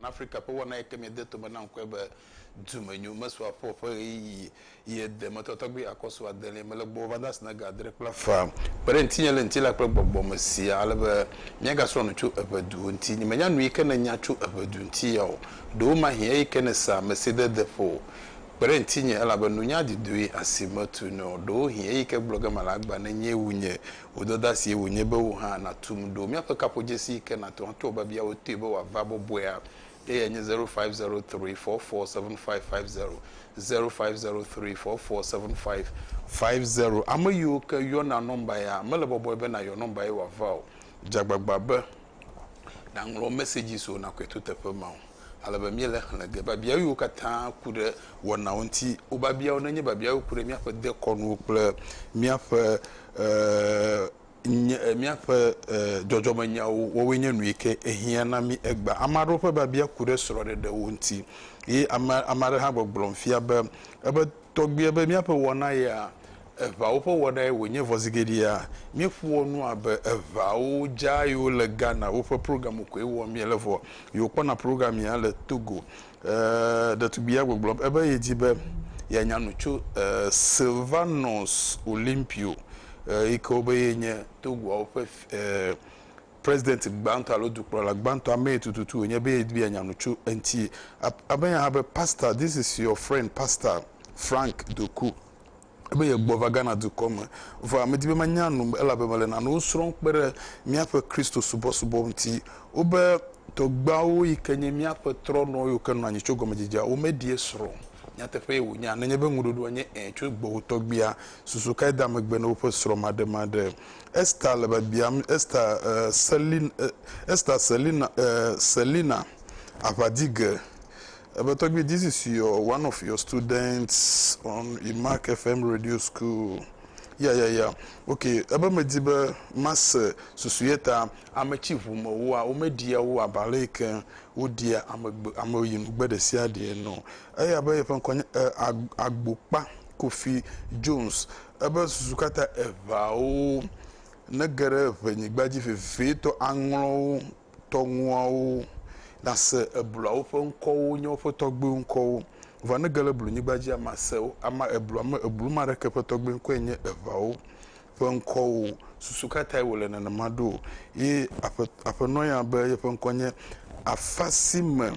Na Afrika ƒe wɔna yi ke miede tome na ŋkɔe be Dumenyo mesua ƒo ƒe ɣeyiɣi yi ede me tɔ tɔgbi akɔ su adelia me le gbɔwò va da si na ga adre kple afã. Kpe ɖe ŋutinye le ŋutilã kple gbɔgbɔ me siaa ale be míagasrɔ̃ nu tso eŋeduwo ŋuti. Nyemenya nu yi ke nènya tso eŋedu ŋuti ya o. Ɖewomahi eyi ke nèsa mesidede ƒo. Kpe ɖe ŋutinye, elabe nunya didoe asi metu nɛ o. Ɖewohi eyi ke gblɔ ge mele agba nenyee wu nye Wò dɔdasie wònye be wò hã nàtum ɖo. Míaƒe kaƒodzesi yi ke nàtu ato abe bia wotui be wòava bɔbɔea eyae nye zero five zero three four four seven five five zero, zero five zero three four four seven five five zero. Ame yiwo ke yɔna nɔmba ya mele bɔbɔe be nàyɔ nɔmba ye wòava o. Dze agbagba be nàŋlɔ mɛsɛdzi so Nakwetu teƒe ma o, ale be míele xlẽ ge. Biabiawo katã ku ɖe wɔnawo ŋuti. Wò biabiawo nenye biabiawo ku ɖe míaƒe dekɔnuwo kple míaƒe míaƒe dzɔdzɔmenyawo wɔwoe nye nu yi ke hiã na mí egbea. Ame aɖewo ƒe biabia ku ɖe srɔ̃ɖeɖewo ŋuti ye ame aɖe hã gbɔgblɔm fia be ebe tɔgbuiae be míaƒe wɔna ya Eŋawo ƒe wɔnae wònye vɔzigeɖea? Míeƒoa nu abe eŋawo dza yiwo le Ghana woƒe programu koe wɔm míele vɔ. Yiwo kpɔna program ya le Togo. E, ɖetugbui ya gbɔgblɔm ebe yedi be yeanya nu tso e, Sylvanus Olympio e, yi ke wobe ye nye Togoawo ƒe e, president gbãtɔ alo dukplɔla gbãtɔ. Amee tututu wònye be yedi be yeanya nu tso eŋuti. Amee hã be, Pastor, this is your friend Pastor Frank Doku. be yegbɔva Ghana dukɔ me. Vɔa medi be manya nu elabe mele nanewo srɔ̃m kpe ɖe míaƒe Kristosubɔsubɔ ŋuti. Wobe tɔgbuiawo yi ke nye míaƒe trɔ̃nɔ yiwo ke nɔ anyi tso gɔmedzedzea wo meɖie srɔ̃ o. Nyateƒee wònye a? Nenye be ŋuɖoɖoa nye ẽ tso gbɔwò tɔgbuia, susu kae dea megbe na woƒe srɔ̃maɖemaɖe? Esther le biabiam Esther, e, Selina, e, Esther Selina, e, Selina, aʋadige. Ebe tɔgbi this is your one of your students on Imac FM radio school ya ya ya ok ebe medi be mase susu ye ta ame tsi ʋu me woa wome ɖia wo aba le yike wo ɖia ame gbe ame yi nu gbe ɖesia ɖe ene o eya be yeƒe ŋkɔ nye e agbo kpa kofi Jones ebe susu kata eʋea wo ne geɖe ʋe nyigba dzi vevie tɔ aŋlɔ wo tɔŋuawo nase ebluawo ƒe ŋkɔwo nye woƒe tɔgbuiwo ŋkɔwo. Vɔ ne ge le blunyigba dzia, mase wo. Ama eblua me eblu ma ɖeke ƒe tɔgbui ŋkɔe nye eʋawo ƒe ŋkɔwo. Susu ka tae wòle nenema ɖo? Ye aƒe, aƒenɔa ya be yeƒe ŋkɔ nye afasime.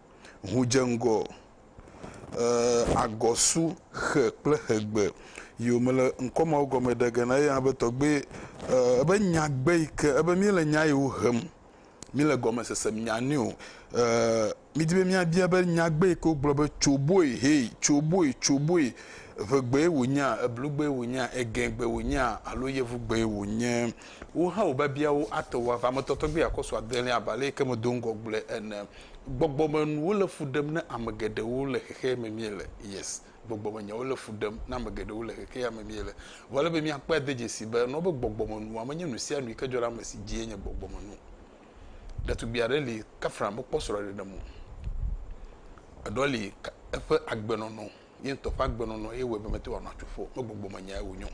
ŋu dze ŋgɔ agɔ su xe kple xegbe yi wòme le ŋkɔ mawo gɔme ɖe ge na eya be tɔgbe ebe nyagbe yi ke ebe míele nya yiwo hem, míele gɔmesese nya nɛ o. Midi be míabia be nyagbe yi ke wogblɔ be tsoboe hee, tsoboe, tsoboe, ŋegbee wònyea, eblugbee wònyea, egɛgbee wònyea alo yevugbee wònye. Wò hã wò biabiawo ate ŋu ava eme tɔtɔgbee akɔ su adelia abe aleke medo ŋgɔ gblɔe ene. Gbɔgbɔmenuwo le fu ɖem na ame geɖewo le xexea me míele. Yes, gbɔgbɔmenyawo le fu ɖem na ame geɖewo le xexea me míele. Vɔ ele be míakpɔe ade dzesii be enɔ be gbɔgbɔmenua menye nusianu yike dzɔ ɖe ame si dzie nye gbɔgbɔmenu. Ɖetugbui aɖe li, Katherine mekpɔ srɔ̃ɖeɖe me o. Eɖɔ li eƒe agbenɔnɔ. Nye ŋutɔ ƒe agbenɔnɔ ye wɔe be mete ŋu anɔ atsu ƒo o. Megbɔgbɔ menyae wònyo.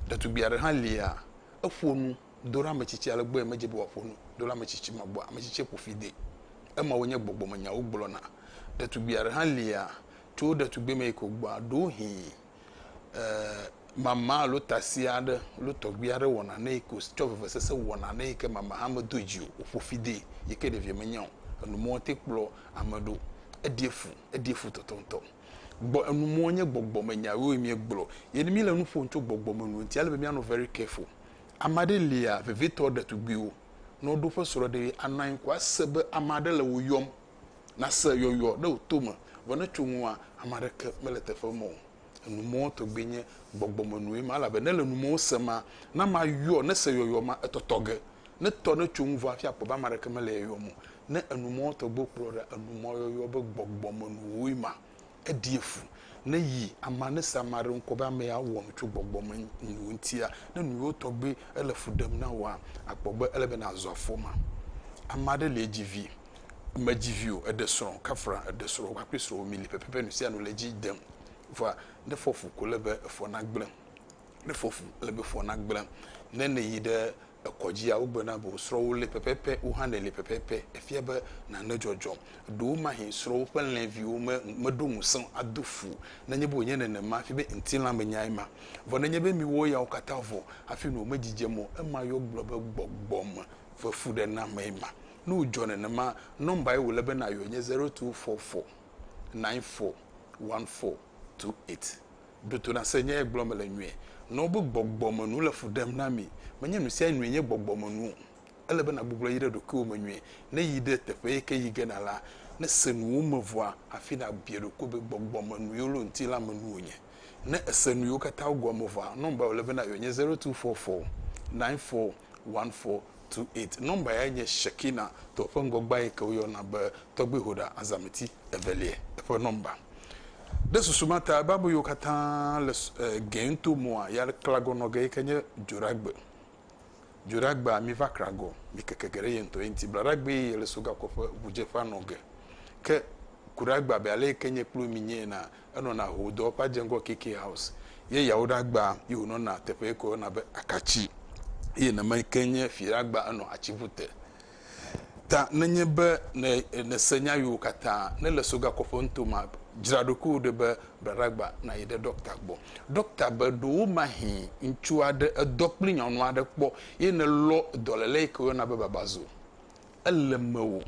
Ɖetugbui aɖe hã lia, eƒo nu do ɖe ame tsitsi ale gbɔ ye medze be wòaƒo nu do ɖe ame tsitsi ma gbɔ. Ame tsitsia ƒo fi de. Emawoe nye gbɔgbɔmenyawo gblɔna. Ɖetugbui aɖe hã lia, tso wo ɖetugbime yi ke wògbɔa, ɖewohĩ e mama alo tasi aɖe alo tɔgbui aɖe wɔ nane yi ke wòtsɔ vevesese wɔ nane yi ke mama hã medo dzi o, wòƒo fi de yi ke ɖevia menya o. Enu mawo ŋutɔ kplɔ Ame ɖo, eɖie fu, eɖie fu tɔtɔŋtɔ. Gbɔ, enu mɔ nye gbɔgbɔme nya yewo miegblɔ. Ye mi le nu ƒom tso gbɔgbɔme nu ŋuti, ele be mianɔ very careful. Ame aɖe lia, vevitɔ ɖetugbuiwo, ne woɖo woƒe srɔ̃ɖeɣi, anɔ anyi ko ase be ame aɖe le wo yɔm. Nase yɔyɔ ɖe wò to me, vɔ ne etso ŋuwòa, ame aɖeke mele teƒe ma o. Enumɔwo tɔgbi nye gbɔgbɔmenue ma, elabe ne le numɔwo se ma, na mayɔ, ne se yɔyɔ ma, etɔtɔ ge, ne tɔ, ne tso ŋuvɔ hafi akpɔ be ame aɖeke mele yɔyɔm o. Ne enumɔwo tɔgbiwo kplɔ ɖa, enumɔyɔyɔ be gbɔgbɔmenuwoe ma, eɖi efu, ne yi amea, ne se ame aɖe ŋkɔ be ame ya wɔ nu tso gbɔgbɔmenuwo ŋutia, ne nuyiwo tɔgbi ele fu ɖem na wòa, akpɔ be ele be nazɔ afɔ ma. Ame aɖe lie dzi vi, medzi vi o, eɖe srɔ̃, kafra eɖe srɔ̃, woƒe akpli srɔ̃wo mili pɛpɛpɛ, nu sia nu le edzi dem. Vɔa, ne efɔ fu ko ele be efɔ nagblẽ. Ne efɔ fu, ele be efɔ nagblẽ. Ne ne yi ɖe ekɔdzia, wogblɔe na be wò srɔ̃wo li pɛpɛpɛ, wò hã nèli pɛpɛpɛ. Efia be nane dzɔdzɔ. Ɖewomahĩ srɔ̃wo ƒe alẽviwo me, meɖo ŋusẽ ado fu o. Nenye be wònye nenema hafi be ŋutilãmenyae ma. Vɔ nenye be miwo yawo katã vɔ̃ hafi nu wòmedzidzem o, ema ye wogblɔ be gbɔgbɔmevefuɖenamee ma. Ne wòdzɔ nenema, nɔmbae wòle be nàyɔe nye zero tu fɔ fɔ naɛn fɔ wan fɔ tu eit. Ɖo to na se nya ye gblɔm mele nyuie. Nɔ wobe gbɔgbɔmenu le fu ɖem na mi. Menye nusianue nye gbɔgbɔmenu o. Ele be nàgbugbɔ yi ɖe ɖokuiwò me nyuie. Ne yi ɖe teƒe yi ke yi ge na la, ne se nu wo me vɔa, hafi nàbia ɖokuiwò be gbɔgbɔmenu yiwo le wo ŋuti la me nu wonye. Ne èse nu yiwo katã wo gɔme vɔa, nɔmbae wòle be nàyɔe nye zero tu fɔ fɔ naɛn fɔ One four two eight nɔmba yae nye Shekina tɔa ƒe ŋgɔgbea yi ke woyɔna be Tɔgbihoɖa Azameti Evelia ƒe nɔmba. Ɖe susu ma ta Bible yiwo katã le gɛ ŋuto mɔa ya klagɔ nɔ ge yi ke nye Dzoɖagbe. Dzoɖagbea mi va kragɔ mi keke ge ɖe ye ŋutɔ ye ŋuti. Blaɖagbe ye le so gakɔƒe ʋudzeƒea nɔ ge. Ke kuɖagba be ale yi ke nye kplu mi nye ena Enɔna Hoodɔ ƒe adzeŋgɔ KK House ye yawo ɖe agba ye wònɔna teƒe yi ke woyɔna be Akatsi eye neme yi ke nye fi ɖe agba enɔ atsiŋu te. Ta nenye be ne nèse nya yiwo katã ne le Sogakɔƒe nuto ma, dzra ɖokuiwò ɖi be bla ɖe agba nàyi ɖe ɖɔkta gbɔ. Ɖɔkta be ɖewomahĩ ŋutsu aɖe edɔ kple nyɔnu aɖe kpɔ ye nelɔ dɔléle yi ke woyɔna be babazo Ele mewò,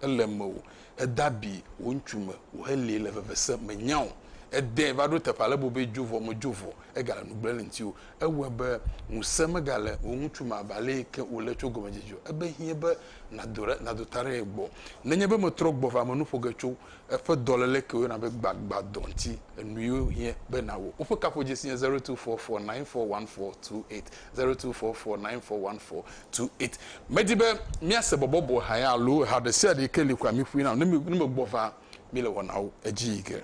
ele mewò. Ède abi wò ŋutsu me wòhelée le vevesẽ, mènya o. Èdee va ɖo teƒe ale be wòbe dzo vɔ, medzo vɔ o. Egale nu gblẽm le ŋutiwò. Ewɔe be ŋusẽ megale wò ŋutsu me abe ale yi ke wòle tso gɔmedzedze o. Ebe hiẽ be nàdo ɖe, nàdo ta ɖe ye gbɔ. Nenye be metrɔ gbɔ va menu ƒo ge tso eƒe dɔléle ke woyɔna be gbagbadɔ ŋuti, enuiwo hiẽ be nàwɔ. Woƒe kaƒodzesi nye zero two four four nine four one four two eight. Zero two four four nine four one four two eight. Medi be míase bɔbɔbɔ ha ya alo ha ɖesiaɖe yi ke li kura miƒoe nam ne mi ne megbɔ va mi le wɔnawo edzi yi ke.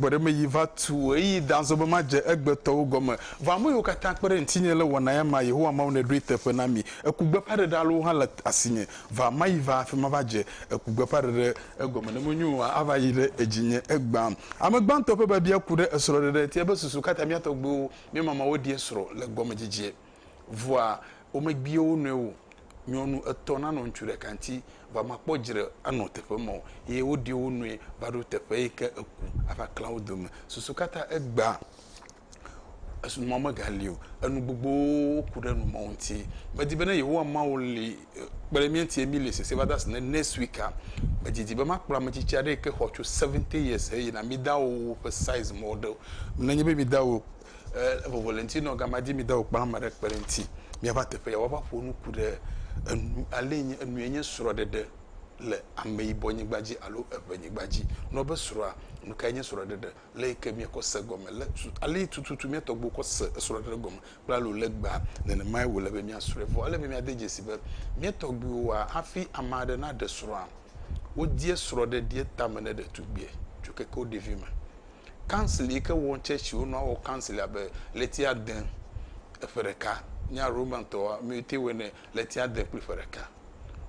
gbɔɖeme yi va tu eyi danzɔ be madze egbetɔwo gɔme vɔ ame yiwo katã kpe ɖe ŋutinye le wɔna ya ma yehowa mawu ne ɖoe teƒe na mi Eku gbeƒãɖeɖe alo hã le asinye va mayi va afi ma va dze eku gbeƒãɖeɖe egɔme ne menyo o hã ava yi ɖe edzinye egbã. Ame gbãtɔ ƒe biabia ku ɖe esrɔ̃ɖeɖe ŋti ebe susu kata mía tɔgbuiwo, mía mamawo ɖie srɔ̃ le gɔmedzedzea vɔa womebia wo nɔewo nyɔnu etɔ̃ nanɔ ŋutsu ɖeka ŋti va makpɔ dzre anɔ teƒe ma o eye woɖie wo nɔe va ɖo teƒe yike eku ava klã wo dome susu kata egbã. Esunumɔ megali o. Enu gbogbowo ku ɖe enumɔ ŋuti. Medi be ne Yehowa Mawu li kpe ɖe mía ŋuti eye míeli sese va de asi ne next week-a, medidi be makplɔ ame tsitsi aɖe yi ke xɔ tso seventy years heyina. Mi dawo ƒe size mɔ ɖe o. Nenye be mi dawo e vovo le ŋuti na wò gamea dzi mi dawo kpla ame aɖe kpe ɖe eŋuti miava teƒe ya woava ƒo nu ku ɖe enu alee nye enue nye srɔ̃ɖeɖe le ameyibɔnyigba dzi alo eŋɛnyigba dzi. Nɔ be srɔ̃a, nu kae nye srɔ̃ɖeɖe? le yi ke mìe kɔ se gɔme le tu ali tututu mìa tɔgbuiwo kɔ se esrɔ̃ɖeɖe ɖe gɔme kple alo legba nenemae wòle be mìasrɔ̃e vɔ ele be mìade dzesi be mìe tɔgbuiwoa hafi ame aɖe naɖe srɔ̃a wodie srɔ̃ɖeɖie tame ne ɖetugbie tso keke wo ɖevi me council yi ke wɔn churchiwo nɔ awɔ council abe leti ade eƒe ɖeka mía roman tɔwa mìte wɔe ne leti ade kple ƒe ɖeka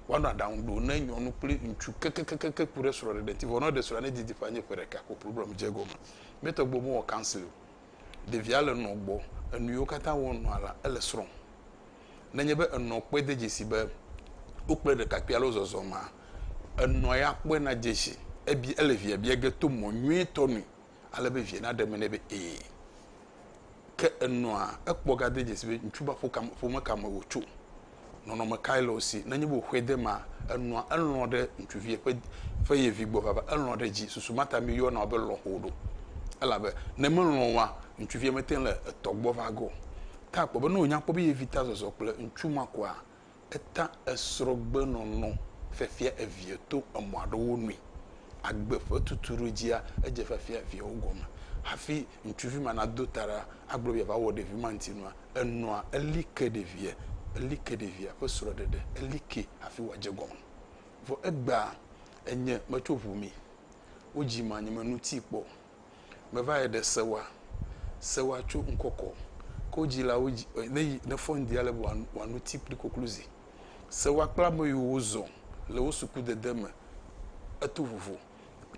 Woanɔ aɖaŋu ɖo ne nyɔnu kple ŋutsu kekekeke ku ɖe srɔ̃ɖeɖe ŋuti vɔ ne woɖe srɔ̃a ne didi ƒe anyi ƒe ɖeka ko problem dze egɔme. Mía tɔgbuiwo mewɔ counseling o. Ɖevia le nɔ gbɔ, enu yiwo katã wɔm wònɔa la, ele srɔ̃m. Ne enye be enɔ kpɔe de dzesi be wokplɔe ɖekakpui alo zɔzɔ mea, enɔ ya kpɔe nadze si. Ebi, ele via bia ge to mɔ nyuitɔ nui. ale be via naɖe eme nɛ be ee. Ke enɔa ekpɔ ga de dzesi be ŋutsu ba ƒo kam ƒome ka me wòtso. Nɔnɔme kae le wo si. Nenye be wòxɔe de emea, enɔa elɔ̃ ɖe ŋutsuvia ƒe ƒe ye vi gbɔ vava. Elɔ̃ ɖe edzi. Susu ma ta mi yɔna be lɔ̃xo ɖo. Elabe ne melɔ̃ oa, ŋutsuvia mete ŋu le etɔ gbɔ va ge o. Ta akpɔ be ne wònya kpɔ be ye vi ta zɔzɔ kple ŋutsu ma koa, Eta esrɔ̃gbenɔnɔ fiafia evia to emɔ aɖewo nui. Agbe ƒe tutuɖodzia edze fiafia eviawo gɔme. Hafi ŋutsuvi ma nado ta ɖa agblɔ be yeava wɔ ɖevi ma ŋuti nua, enɔa eli ke ɖevia, eli ke ɖevia ƒe srɔ̃ɖeɖe, eli kee hafi wòadze egɔme. Vɔ egbea, enye metso ʋu mi. Wodzim anyi menuti kpɔ o. Meva yɛ ɖe sewa, sewa co ŋkɔkɔ ko jilawo ji ɔ ne yi ne fɔn dia le bua wa nu ti kpli kokluzi. Sewa kpla me yo wo zɔ le wo suku dede me eto vovo.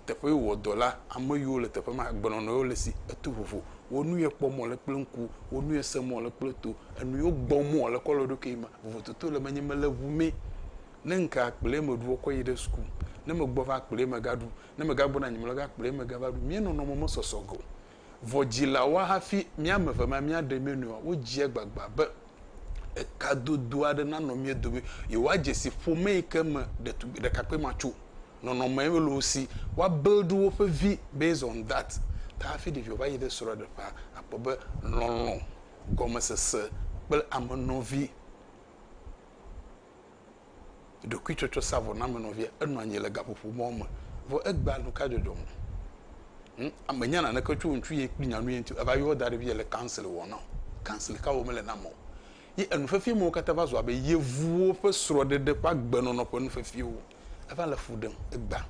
Teƒe yo wɔ dɔ la, ame yo le teƒe ma gbenɔnɔ yo le si eto vovo. Wo nu yɛ kpɔ mɔ le kple ŋku, wo nu yɛ se mɔ le kple to, enu yo gbɔ mɔ le kɔ le ɖo ke ma. Vovototo le menye mele ŋu mɛ. Ne ŋke akplɛ me ɖu ɔkɔ yi ɖe suku. Ne me gbɔ va akplɛ me ga ɖu. ne megagbɔna anyi mlɔ ga kplɔe megava ɖu. Mía nɔnɔme mesɔsɔ ge o. Vɔ dzilawoa hafi mía ame eve ma míaɖe mía nɔewoa, wodzia agbagba be ekadodo aɖe nanɔ mía dome. Yewoadze si ƒome yi ke me ɖetugbui ɖekakpui ma tso. Nɔnɔme loo si woabuild woƒe vi based on that ta hafi ɖevia va yi ɖe srɔ̃ɖeƒea akpɔ be lɔlɔ̃, gɔmesese kple amenɔvi. ɖokuitsɔtsɔ sa vɔ name nɔvia enɔ anyi le gaƒoƒo mɔ me vɔ egbea nuka dzɔdzɔ me hm ame nya naneke tso ŋutsu ye kpli nyanu ye ŋuti eva yɔ da ɖe via le council wɔ na council ka wɔ mele na mɔ ye enu fefie mɔ kata va zɔa be yevuwo ƒe srɔɖeɖe ƒe agbenɔnɔ ƒe nu fefiewo eva le fu ɖem egbea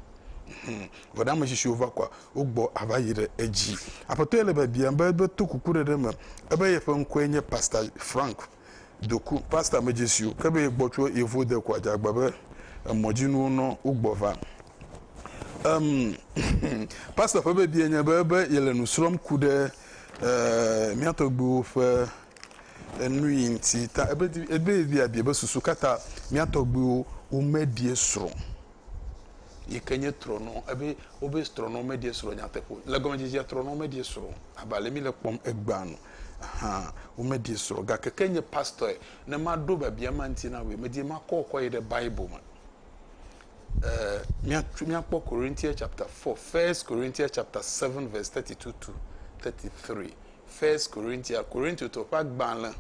hm vɔ ɖe ame tsitsi va kɔa wogbɔ ava yi ɖe edzi aƒetɔ ye le biabiam be be to kuku ɖeɖe me ebe yeƒe ŋkɔe nye pastor frank doku pasta medzesiwo ke be yegbɔ tso yevo de kua jagba be emɔdzinuwo nɔ wogbɔ va. Um, pasta ƒe bebie nye be be yele nu srɔm ku ɖe uh, mía tɔgbuiwo ƒe enu yi ŋuti ta ebe ebe biabia be susu kata mía tɔgbuiwo womeɖie srɔ̃. yi ke nye trɔnɔ ebe wobe trɔnɔ meɖie srɔ̃ nyateƒe o. Le gɔmedzedzea trɔnɔ meɖie srɔ̃ abe ale mi le kpɔm egbea nu hã womeɖie srɔ̃ gake ke nye pastor ne maɖo biabia ma ŋuti na wòe medi makɔ kɔ yi ɖe Bible me. Eh, miatu miakpɔ Corinthians chapter 4, First Corinthians chapter 7 verse 32 to 33. First Corinthians, Corinthians ƒe agbalẽ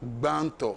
gbãtɔ.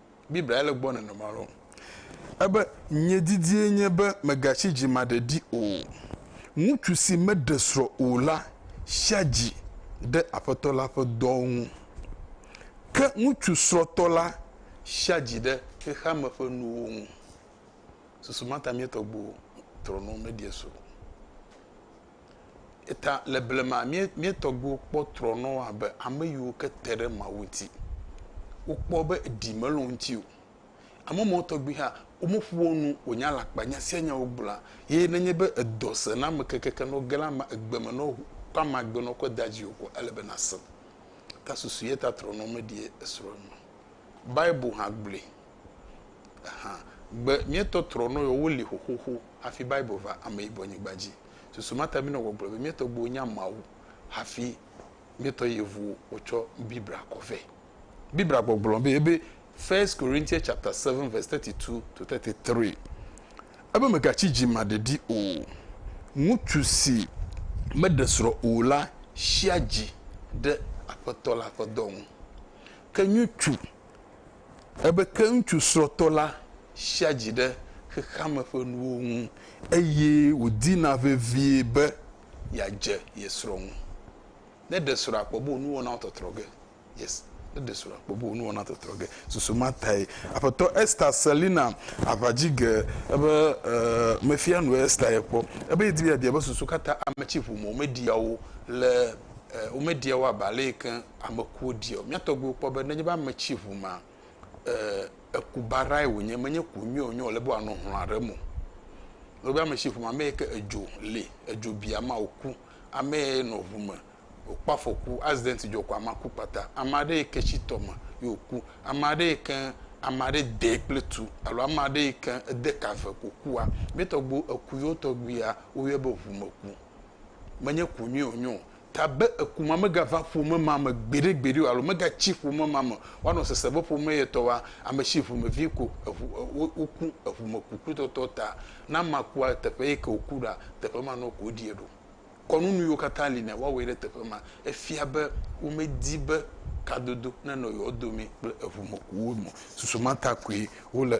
Biblia ya le gbɔ nɔnɔme aɖewo. Ebe, Nye didie nye be megatsi dzimaɖeɖi o. Ŋutsu si meɖe srɔ̃ o la tsia dzi ɖe Aƒetɔ la ƒe dɔwo ŋu. Ke ŋutsu srɔ̃tɔ la tsia dzi ɖe xexeame ƒe nuwo ŋu. Susu ma ta mía tɔgbuiwo trɔnɔ wo meɖia srɔ̃ o. Eyata le blema mía, mía tɔgbuiwo kpɔ trɔnɔ abe ame yiwo ke te ɖe Mawu ŋuti. Wokpɔ be ɖi mele wo ŋuti o. Ame mawo tɔgbi hã, womeƒo wo nu wònye alakpa nya sia nya wogblɔa, ye nenye be edɔ sẽ na ame kekeake ne woge ɖe ama, egbe me ne woŋu ƒe amagbe ne wokɔ dea dziwò ko ele be nàsẽ. Ta susu yeta trɔnɔ meɖi esrɔ̃ eme o. Bible hã gblɔe. hã. Gbe míetɔ trɔnɔ yɔ woli xoxoxo hafi Bible va ameyibɔnyigba dzi. Susu ma ta míenɔ gbɔgblɔ be mía tɔgbuiwo nya Mawu hafi míetɔ yevuwo wotsɔ Biblia kɔ vɛ. Biblia gbɔgblɔ be ebe, First Corinthians chapter seven verse thirty two to thirty three, ebe mègatsi dzimaɖeɖi o. Ŋutsu si meɖe srɔ̃ o la tsia dzi ɖe Aƒetɔ la ƒe dɔ ŋu. Ke ŋutsu. Ebe ke ŋutsu srɔ̃tɔ la sia dzi ɖe xexeame ƒe nuwo ŋu eye wòdina vevie be yeadze ye srɔ̃ ŋu. Ne ɖe srɔ̃a kpɔ be wò nuwɔnawo tɔtrɔ ge. Yes, ne ɖe srɔ̃a kpɔ be wò nuwɔnawo tɔtrɔ ge. Susu ma tae Aƒetɔ Esther Selina aʋa dzi ge ebe mefia nu Esther ye kpɔ. Ebe yedi be yeabia be susu ka ta ame tsi ʋu me womeɖia wo le e, womeɖia wo abe ale yi ke ame kuwo ɖia o. Mía tɔgbuiwo kpɔ be nenye be ame tsi ŋu ma, e, eku baɖae wònye, menye ku nyui o, nyui wòle be wòanɔ hlɔ̃ aɖe me o. Nenye be ame tsi ŋu ma, ame yi ke edzo li, edzo bi ame wòku, ame yi nɔ ŋu me, wòkpɔ afɔku, accident dzɔ ko amea ku kpata. Ame aɖe yi ke tsi tɔ me ye wòku, ame aɖe yi ke ame aɖe dee kple tu alo ame aɖe yi ke ede ka ve ko kua, mía tɔgbuiwo eku yewo tɔgbuia woyɔe be ŋumeku. menye ku nyuie wònye o. Ta be eku ma megava ƒome ma me gbeɖegbeɖe o alo megatsi ƒome ma me o. Woanɔ sese be ƒome ye tɔ wa, ame si ŋumevi ko eŋu, wo, woku eŋumekukutɔtɔ ta. Ne amea kua, teƒe ye ke wòku ɖoa, teƒe ma nɔ ko woɖie ɖo. Kɔnu nuyiwo katã li nɛ, woawɔe ɖe teƒe ma. Efia be womedi be kadodo nenɔ yewo domee kple eŋumekuwo me o. Susu ma ta koe wole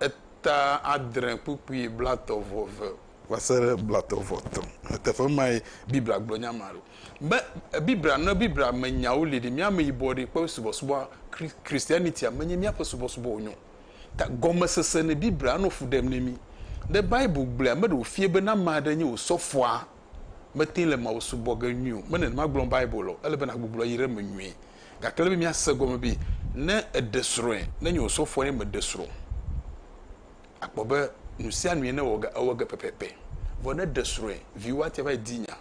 eta adre kpukpui blatɔ vɔ eve. Va se ɖe blatɔ vɔ etɔ̃. Le teƒe mae Biblia gblɔ nya ma ɖo. Be Biblia, ne Biblia me nyawo li ɖi, mía ameyibɔ ɖi ƒe subɔsubɔa, Christianitya menye míaƒe subɔsubɔ wònye o. Ta gɔmesese nɛ Biblia anɔ fu ɖem ne mí. Ne Bible gblɔe, ame ɖe wòfia be ne ame aɖe nye wò sɔfoa, mete le Mawu subɔ ge nyuie o. Mele nenema gblɔm Bible o. Ele be nàgbugbɔ yi ɖe eme nyuie. Gake ele be míase egɔme be ne èɖe srɔ̃e, ne nye osɔfoɔ ye meɖe srɔ̃ o, akpɔ be nusianue newɔ ge, ewɔ ge pɛpɛpɛ. Vɔ ne èɖe srɔ̃e, viwò ate ava yi di nya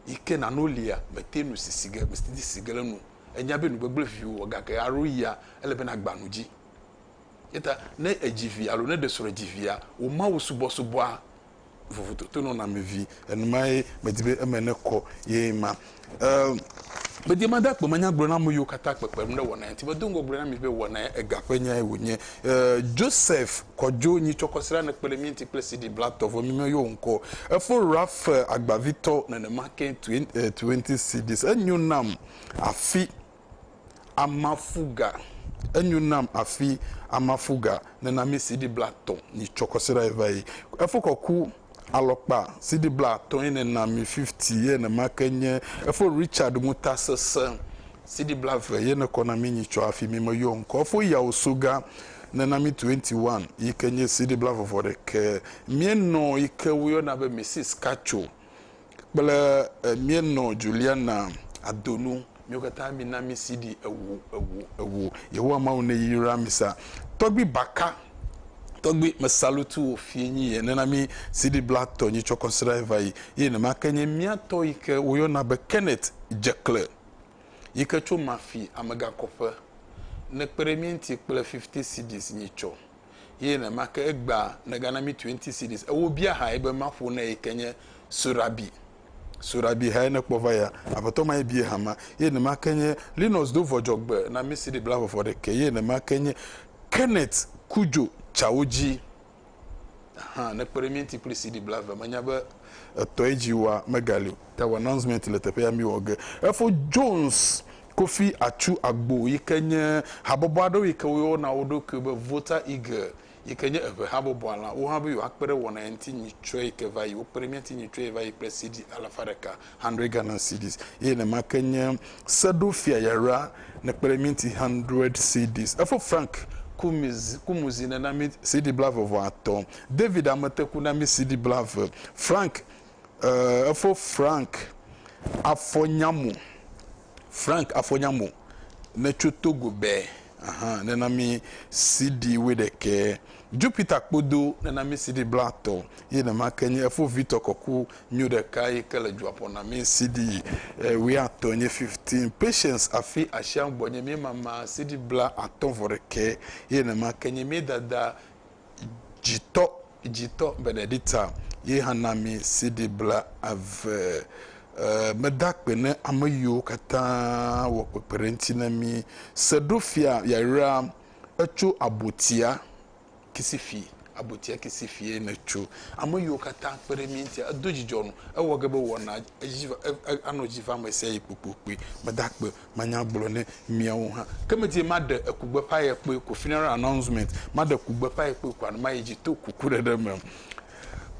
yi ke nano lia, mete nu si si ge, mete si ge le nu. Ènya be nugbegblẽ viwò wɔ gake alo yia, ele be nàgba nu dzi. Eyata ne èdzi vi alo ne èɖe srɔ̃e dzi via, wò Mawu subɔsubɔa vovototo nɔna me vi enumae medi be eme nekɔ ye ma em medi be mada kpema nya gblɔ na ame yiwo katã kpekpem ne wɔnae ŋuti medo ŋgɔ gblɔ na mi be wɔna ega ƒe nyae wonye e Joseph Kojo Nyitsɔkɔsra ne kpe ɖe mía ŋuti kple CD bla tɔ vɔ mi me yɔ ŋkɔ o efo Raphael Agbavitɔ nenema ke Twenty Cedis enyo nam afi. Amafuga, enyo nam afi amafuga nena mi CD blatɔ ni tsɔ kɔsiɖa yi va yi. Efo kɔku alɔkpa CD blatɔ yi nena mi 50 yi ene ma ke nye efo Richard ŋuta sese CD blave yi ne kɔ na mi nyi tsɔ afi mi me yɔ ŋkɔ. Efo yawo soga nena mi 21 yi ke nye CD blavɔvɔ ɖekɛ. Mienɔ yi ke wo yɔna be Mrs. Kacho. kple mienɔ Juliana adonu miwo katã mina mi CD ewo ewo ewo Yehowa Mawu ne yra mi sa tɔgbi baka tɔgbi me salutu wo fie nyi ye nena mi CD bla tɔ nyi tsɔ kɔnsra eva yi ye ne ma ke nye mia tɔ yi ke wo yɔna be Kenneth Jekle yi ke tso mafi amegakɔƒe ne kpe ɖe mi ŋti kple 50 CDs nyi tsɔ eye nenemakeŋ egbea negana mí twenty cedis. Eye wobia hae be maƒo ne yi ke nye Sorabi. Sorabi hae nekpɔ va yia. Aƒetɔ mae biae hama. Eye nenemakeŋ nye Linus do vɔ dzɔgbe na mí CD blafɔfɔ ɖekɛ. Eye nenemakeŋ nye Kenneth ku dzo tsawo dzi hã nekpe ɖe mía ŋuti kple CD blave. Menya be etɔe dzi woa megali o. Tawu announcement le teƒea mí wɔ ge. Efo Jones Kofi Atsu Agbo yi ke nye habɔbɔ aɖewo yi ke woyɔna wo ɖokui be Volta Eagle yi ke nye eŋe habɔbɔa la, wo hã be yewoakpe ɖe wɔna ya ŋuti nyitsɔe yi ke va yi. Wokpe ɖe mía ŋuti nyitsɔe yi va yi kple CD alafa ɖeka, hundred Ghana cedis, eye nenema ke nye Seɖofia Yayra nekpe ɖe mí ŋuti hundred cedis. Efo Frank Kumuzi, Kumuzi nena mí CD blaeve vɔ atɔ̃, David Ameteku na mí CD blaeve, Frank. Ee, efo Frank Afɔnyamo. Frank Afɔnyamo ne tso Togo be ahan ne na mi CD wuiɖekɛ. Jupiter Kpodo ne na mi CD blatɔ. Ye nema ke nye efo Victor Kɔku nyo ɖeka yi ke le dua ƒo na mi CD e, wuiatɔ nye 15. Patience Afi Ashiaŋgbɔ nye mi mama CD bla atɔ vɔ ɖekɛ. Ye nema ke nye mi dada dzitɔ dzitɔ Benedicta ye hã na mi CD bla eve. Meda akpe ne ame yiwo katã wɔ kpekpeɖeŋti ne mi. Seɖofia yayra etso abotia kisifi, abotia kisifi ye ne tso. Ame yiwo katã kpe ɖe mi ŋtia, edo dzidzɔ nu. Ewɔ ge be wɔna edzi va, anɔ edzi va amesiayi kpokpokpui. Meda akpe manya agblɔ ne miawo hã. Ke medi be maɖe ekugbeƒãye kpɔe ko, funeral announcement, maɖe kugbeƒãye kpɔe ko alo mayi dzi to kukuɖeɖe me.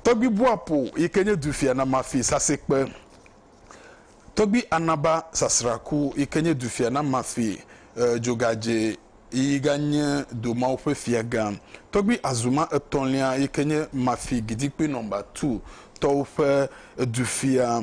Tɔgbui Boapo yi ke nye dufia na Mafi sasikpe. Tɔgbui Anaba Sasraku yi ke nye dufia na Mafi Dzogadze yi ganye do mawo ƒe fiagã. Tɔgbui Azuma etɔ̃lia yi ke nye Mafi Gidikpui nɔmba two tɔwo ƒe dufia.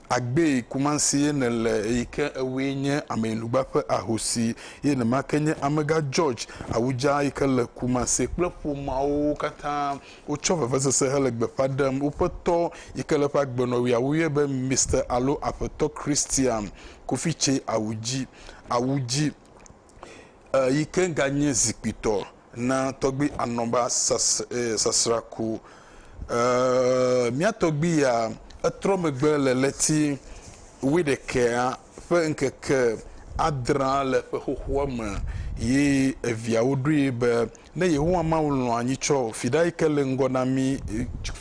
Agbee Kumasi ye nèle eyi ke ewue nye Ameyinugba ƒe ahosi ye nema ke nye Amegã George Awujah yi ke le Kumasi kple ƒomea wo katã wotsɔ vevesese hele gbeƒã ɖem woƒe tɔ yi ke le eƒe agbenɔɣia woyɔe be Mister alo Aƒetɔ Christian Kofi Tsei Awudzi Awudzi yi ke ganye zikpuitɔ na tɔgbui Anɔba sasra ku. Mía tɔgbui ya etrɔ megbe le ɣleti wuiɖekɛa ƒe ŋkeke adrea le ƒe xoxoa me ye eviawo ɖoe be Ne Yehowa Mawu lɔ̃a anyi tsɔ fiɖa yi ke le ŋgɔ na mí,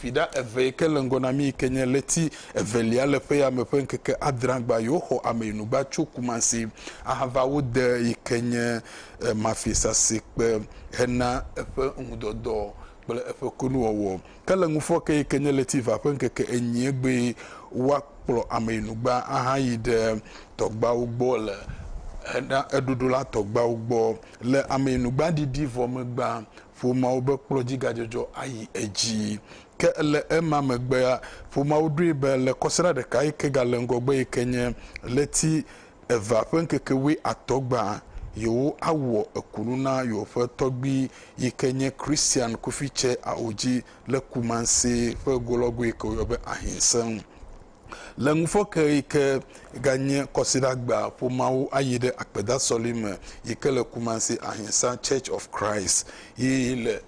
fiɖa eve yi ke le ŋgɔ na mí yi ke nye ɣleti evelia le ƒe ya me ƒe ŋkeke adrea gbɔa, yewoxɔ ame yi nu va tso Kumasi ahava wo de yi ke nye mafisasekpe hena eƒe ŋudɔdɔ kple eƒe kunuwɔwɔ. Ke le ŋufɔ ke yi ke nye ɣleti eva ƒe ŋkeke enyie gbee woakplɔ ame yi nu gbã ahayi ɖe tɔgbeawo gbɔ le hena eɖoɖo la tɔgbeawo gbɔ. Le ameyinugbaɖiɖi vɔ megbea, ƒomeawo be kplɔdzigadzɔdzɔ ayi edzi. Ke le ema megbea, ƒomeawo ɖoe be le kɔsiɖa ɖeka yi ke gale ŋgɔgbe yi ke nye ɣleti evea ƒe ŋkeke wuiatɔ̃ gbea, yewoawɔ kunu na yewoƒe tɔgbui yi ke nye Christian Kufitse Aodzi le Kumasi ƒe golɔgoe yi ke woyɔ be Ahinseŋ. Le ŋufɔkeɣi ke ganye Kɔsiɖagbea ƒomeawo ayi ɖe akpedasɔli me yi ke le Kumasi Ahimsa Church of Christ yi le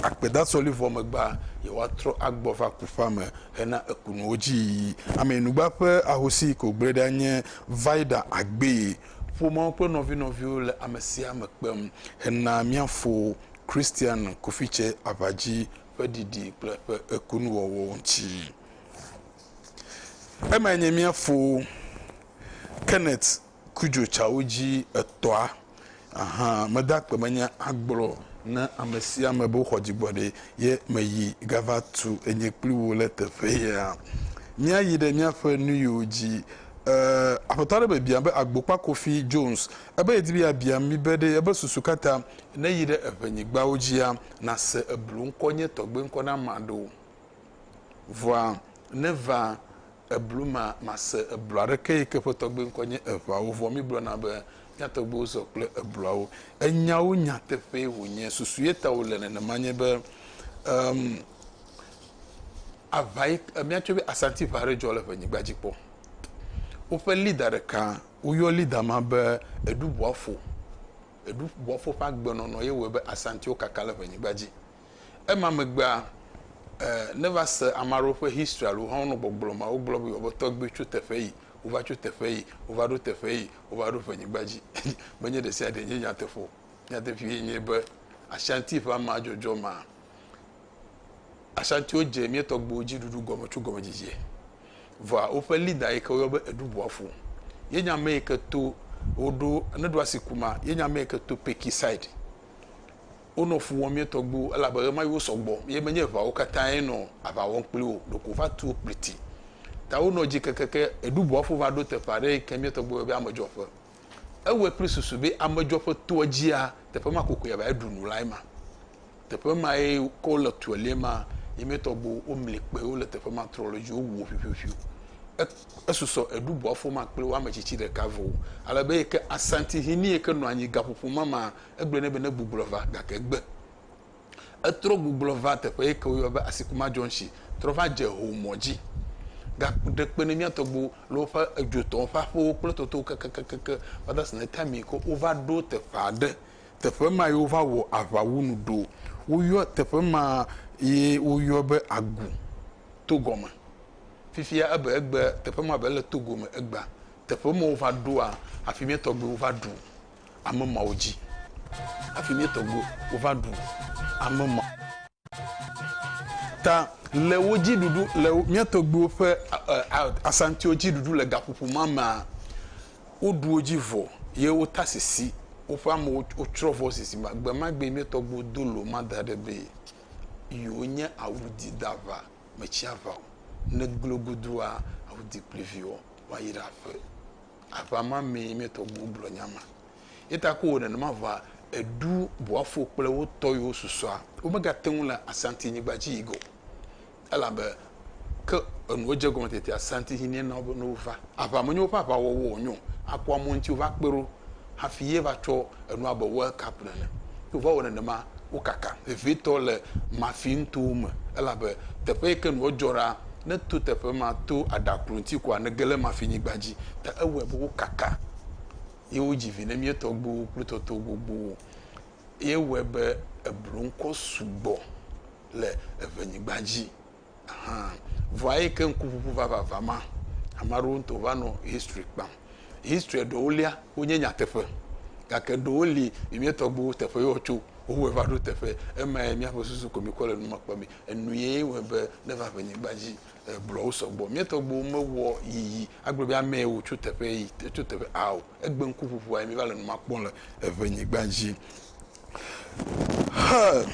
akpedasɔli vɔ megbea, yewoatrɔ agbɔ va kuƒea me hena ekunuwo dzi yiyi. Ameyinugba ƒe ahosi yi ke wògblẽ ɖia nye Vida Agbee. Ƒomeawo kple nɔvinɔviwo le amesiame kpem hena mía fo Christian Kofitse aʋadzi ƒe ɖiɖi kple eƒe ekunuwɔwɔ ŋuti. Emae nye mía fo Kenneth Kujotsawo dzi etɔ̃a. Aha meda akpe menye agblɔ na ame sia ame be woxɔ dzigbɔɖi ye meyi gava tu enye kpli wo le teƒe ya. Míayi ɖe míaƒe nuyiwo dzi. Eh, aƒetɔ aɖe me biam be agbokpa Kofi Jones ebe yedi be yeabia mi be ɖe ebe susu katã ne yi ɖe eʋenyigbawo dzia nase eblu ŋkɔ nye tɔgbe ŋkɔ na ma ɖo o. Vɔa ne va eblu ma mase eblu aɖeke yi ke ƒe tɔgbe ŋkɔ nye eʋawo. Vɔ mi gblɔna be mia tɔgbewo zɔ kple ebluawo. Enyawo nyateƒee wonye. Susu ye ta wole nenema nye be, em, aʋa yi ke, mia tsɔe be Asanti ʋa aɖe dzɔ le ƒe nyigba dzi kpɔ. Woƒe leader ɖeka, woyɔ leader ma be Edubuafo. Eɖubɔfo ƒe agbenɔnɔ ye wɔe be Asantiwo kaka le ʋenyigba dzi. Ema megbea, e, neva se ame aɖewo ƒe history alo hã wonɔ gbɔgblɔ ma, wogblɔ be yewoa be tɔgbui tso teƒe yi, wova tso teƒe yi, wova ɖo teƒe yi, wova ɖo ʋenyigba dzi. Menye ɖesiaɖee nye nyateƒe o. Nyateƒee nye be Asanti ƒe amea dzɔdzɔ ma, Asantiwo dze mía tɔgbuiwo dzi ɖuɖu gɔme tso gɔmedzidzie. vɔa woƒe leader yi ke woyɔ be eɖu boafo ye nya ame yi ke to woɖo ne ɖo asi kuma ye nya ame yi ke to peki side wonɔ fu wɔm ye tɔgbuiwo elabe ɣe ma yi wosɔ gbɔ ye menye eʋawo katã ye nɔ aʋa wɔm kpli wo ɖeko va tu wo kpliti ta wonɔ dzi kekeke eɖu boafo va ɖo teƒe aɖe yi ke mía tɔgbuiwo yɔ be amedzɔƒe Ewɔe kple susu be amedzroa ƒe toa dzia teƒe ma kokoe ava ɖu nu lae ma. Teƒe mae ke wole tɔe le ma ye me tɔgbuiwo womli kpe wole teƒe ma trɔ le edzi wowuwo ƒiuƒiuƒiu. Esusɔ eɖu bɔ afɔ ma kple wo ame tsitsi ɖeka vɔ o. Ale be yike Asantehene yike nɔ anyi gaƒoƒo ma ma egblɔe nɛ be negbugbɔ va gake egbe. Etrɔ gugblɔ va teƒe yike woyɔa be Asikuma Junction trɔ va dze ho mɔ dzi. Ga ɖe kpe ne mía tɔgbuiwo le woƒe edzo tɔ woƒe aƒewo kple totowo kekekeke. Fathers ne time yike wova ɖo teƒe aɖe. Teƒe ma ye wova wɔ aʋawu nu ɖo. Woyɔ teƒe ma ye woyɔ be Agu to gɔme. Fifia ebe egbe teƒe ma be le Togo me egbea. Teƒe ma wova ɖoa afi mía tɔgbuiwo va ɖu. ame mawo dzi. Hafi mía tɔgbuiwo wova ɖu ame ma ta le wo dzi ɖuɖu le mía tɔgbuiwo ƒe asantiwo dzi ɖuɖu le gaƒoƒo ma mea, woɖu wo dzi vɔ ye wota sisi woƒe amewo wotsrɔ̃ vɔ sisi ma. Gbe ma gbe mía tɔgbuiwo do lo ma da ɖe be yewonye awudi daʋa me tsiaʋawo ne glogodua awudi kpliviwo woayra aƒe. Aʋa ma mee mìatɔ ŋu gblɔ nya ma. Eya ta ko wònɔ nenema vɔa, eɖu Boafo kple wo tɔ yiwo susɔa. Womegate ŋu le Asanti-nyigba dzi yi ge o, elabe ke enuwo dze egɔme tetea, Asanti hinɛ na wo be ne wova. Aʋa menye woƒe aʋawɔwɔ wònyo akpɔ amewo ŋuti wova kpe ɖo hafi ye va tsɔ enu abe world cup nene. Ne wova wɔ nenema, wo kaka vevietɔ le Mafi nutowo me elabe teƒe yi ke nua dzɔ ɖaa, ne eto teƒe ma to aɖaklo ŋuti koa ne ge ɖe Mafi nyigba dzi. Ta ewɔe be wo kaka ye wo dzi vi ne mía tɔgbuiwo kple tɔto gbogbowo ye wɔe be eblo ŋkɔ sugbɔ le eŋe nyigba dzi. Ahan. Vɔa eyi ke ŋkuŋuŋu vavava ma, ame aɖewo ŋutɔ va nɔ history kpam. History ɖewo lia, wonye nyateƒe. Gake ɖewo li, mi mía tɔgbuiwo teƒe ye wotso, wowɔe va ɖo teƒe. Emae míaƒe susu ko mikɔ le nu ma kpɔmee. Enu ye wɔe be ne eva ƒe nyigba dzi, blɔwo sɔgbɔ. Mía tɔgbuiwo mewɔ yiyi agblɔ be ame ye wotso teƒe yi, tso teƒe ao. Egbe ŋkuŋuŋua ye míva le nu ma kpɔm le ŋe nyigba dzi. Hɛ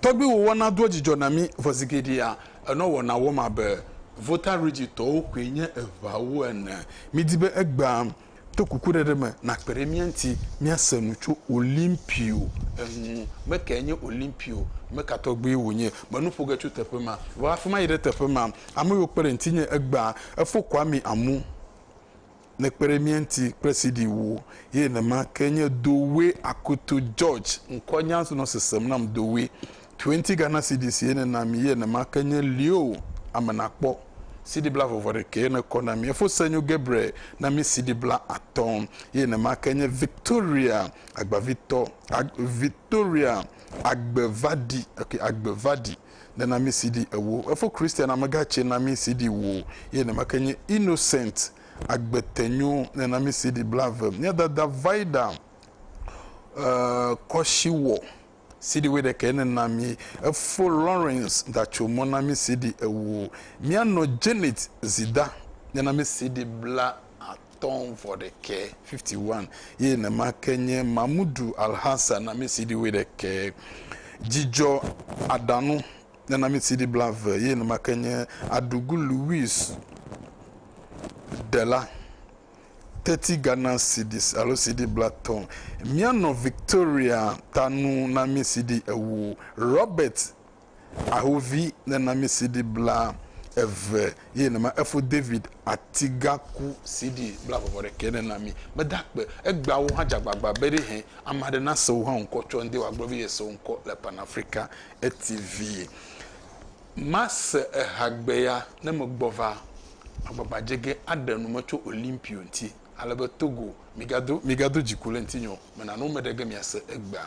tɔgbi wo wɔna doa dzidzɔ na mi vɔ zigeɖea enɔ wɔna wɔm abe Volta Region tɔwo koe nye eŋawo ene. Mi di be egbea to kuku ɖeɖe me na kpe ɖe mía ŋuti mía se nu tso Olimpio ŋu. Me kae nye Olimpio? Me ka tɔgbi wo nye? Me nu ƒo ge tso teƒe ma va afima yi ɖe teƒe ma. Ame yiwo kpe ɖe ŋuti nye egbea efo kɔa mi amu. ne kpe ɖe mía ŋuti kple CD ŋu o. Ye nema ke nye Dowe Akutu George, ŋkɔnyaa ŋsu nɔ sesem nam Dowe. Twenty Ghana Cedis ye ne na mi ye nema ke nye Leo Amenakpɔ, CD bla vɔvɔ ɖekɛ ye ne kɔ na mi. Efosenyo Gabriel na mi CD bla atɔ ye nema ke nye Victoria Agbavitɔ, Victoria Agbevadi, okay, Agbevadi. ne na mi CD ewo. Efo Christian amegã tsɛ na mi CD wo ye neme ke nye Innocent Agbetenyo ne na mi CD blave. Mía dada Vida e kɔshiwɔ CD woe ɖekɛ ne na mi. Efo Lawrence Datsomɔ na mi CD ewo. Mía nɔ Janet Zida ne na mi CD bla at. atɔ̃ vɔ ɖekɛ, 51, ye nenema ke nye Mahmudu Alhassan Amisidi wuiɖekɛ, Djidjɔ Adanu Nenamisidi blave ye nenema ke nye Adugu Louis Dela, Teti Gana Sidi alo Sidi blatɔ, Mianɔ Victoria Tanu Namisidi ewo, Robert ahovi nenami CD bla eve ye nama efo David Atigaku CD bla vɔvɔ ɖekɛ nenami meda kpe egbawo hã dzagbagba be ɖe hɛn amaɖe na sewo hã ŋkɔ tsɔ ŋde wa gblɔ be ye sewo ŋkɔ le Pan Africa TV ma se eha gbe ya ne me gbɔ va agbagba dze ge aɖe nu me tso Olympio ŋti ale be Togo mi ga do mi ga do dziku le ŋti nyo me na no me ɖe ge mia se egbea.